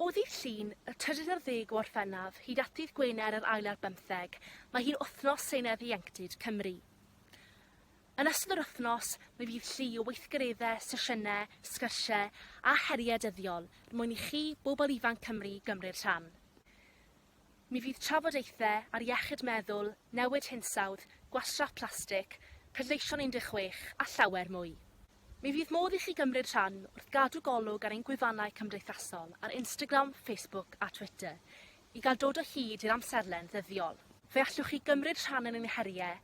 O ddydd Llun, y trydydd ar ddeg o Orffennaf, hyd at ddydd Gwener, yr ail ar bymtheg, mae hi'n Wythnos Senedd Ieuenctid Cymru. Yn ystod yr wythnos, mi fydd llu o weithgareddau, sesiynau, sgyrsiau a heriau dyddiol er mwyn i chi, bobl ifanc Cymru, gymryd rhan. Mi fydd trafodaethau ar iechyd meddwl, newid hinsawdd, gwastraff plastig, pleidleisio'n 16 a llawer mwy. Mi fydd modd i chi gymryd rhan wrth gadw golwg ar ein gwefannau cymdeithasol ar Instagram, Facebook a Twitter i gael dod o hyd i'r amserlen ddyddiol. Fe allwch chi gymryd rhan yn ein heriau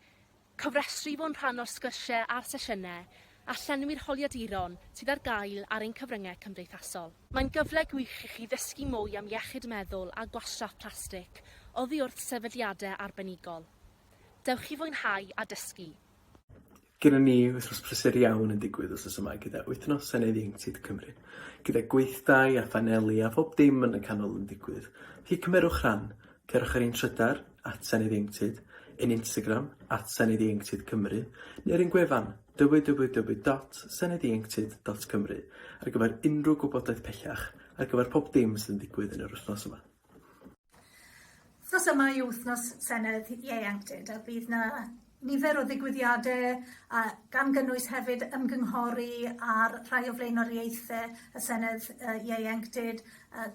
Cofrestru i fod yn rhan o'r sgyrsiau a'r sesiynau a llenwi'r holiaduron sydd ar gael ar ein cyfryngau cymdeithasol. Mae'n gyfle gwych i chi ddysgu mwy am iechyd meddwl a gwastraff plastig oddi wrth sefydliadau arbenigol. Dewch i fwynhau a dysgu! Gynnon ni wythnos prysur iawn yn digwydd wsos yma gyda Wythnos Senedd Ieuenctid Cymru, gyda gweithdai a phaneli a phob dim yn y canol yn digwydd, felly cymerwch rhan, Cerwch ar ein trydar, at Senedd Ieuenctid, ein Instagram, at Senedd Ieuenctid Cymru, neu ar ein gwefan, www.seneddieuenctid.cymru, ar gyfer unrhyw gwybodaeth pellach ar gyfer pob dim sydd yn digwydd yn yr wythnos yma. Wythnos yma yw wythnos Senedd Ieuenctid a bydd 'na Nifer o ddigwyddiadau, a gan gynnwys hefyd ymgynghori ar rhai o flaenoriaethau y Senedd Ieuenctid,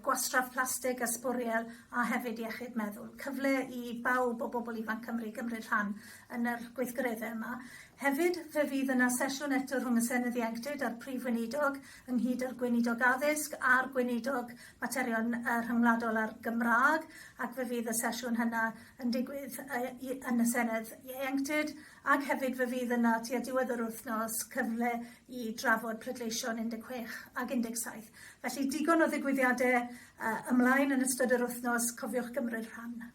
Gwastraff Plastig a Sbwriel a hefyd Iechyd Meddwl. Cyfle i bawb o bobl ifanc Cymru gymryd rhan yn yr gweithgareddau yma. Hefyd, fe fydd yna sesiwn eto rhwng y Senedd Ieuenctid a'r Prif Weinidog, ynghyd â'r Gweinidog Addysg a'r Gweinidog Materion Rhyngwladol a'r Gymraeg, ac fe fydd y sesiwn hynna yn digwydd yn y Senedd Ieuenctid ac hefyd fe fydd yna tua diwedd yr wythnos cyfle i drafod pleidleisio yn 16 ac 17. Felly digon o ddigwyddiadau uh, ymlaen yn ystod yr wythnos, cofiwch gymryd rhan.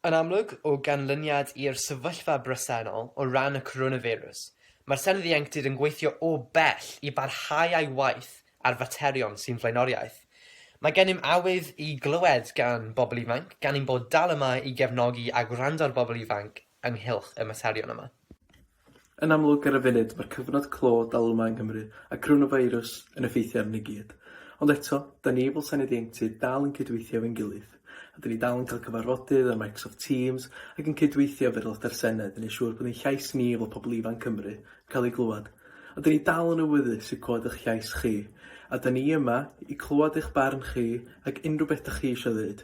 Yn amlwg, o ganlyniad i'r sefyllfa bresennol o ran y coronavirus, mae'r Senedd Ieuenctid yn gweithio o bell i barhau â'i waith ar faterion sy'n flaenoriaeth. Mae gennym awydd i glywed gan bobl ifanc, gan ein bod dal yma i gefnogi a gwrando ar bobl ifanc ynghylch y materion yma. Yn amlwg ar y funud mae'r cyfnod clo dal yma yng Nghymru a coronafeirws yn effeithio arnon ni gyd. Ond eto, 'da ni fel Senedd Ieuenctid dal yn cydweithio efo'n gilydd. A 'da ni dal yn cael cyfarfodydd ar Microsoft Teams ac yn cydweithio efo'r Aelodau'r Senedd i wneud siŵr bod ein llais ni fel pobl ifanc Cymru yn cael ei glywed Ond 'da ni dal yn awyddus i glywed eich llais chi, a 'da ni yma i glywed eich barn chi ac unrhyw beth 'da chi eisiau ddeud.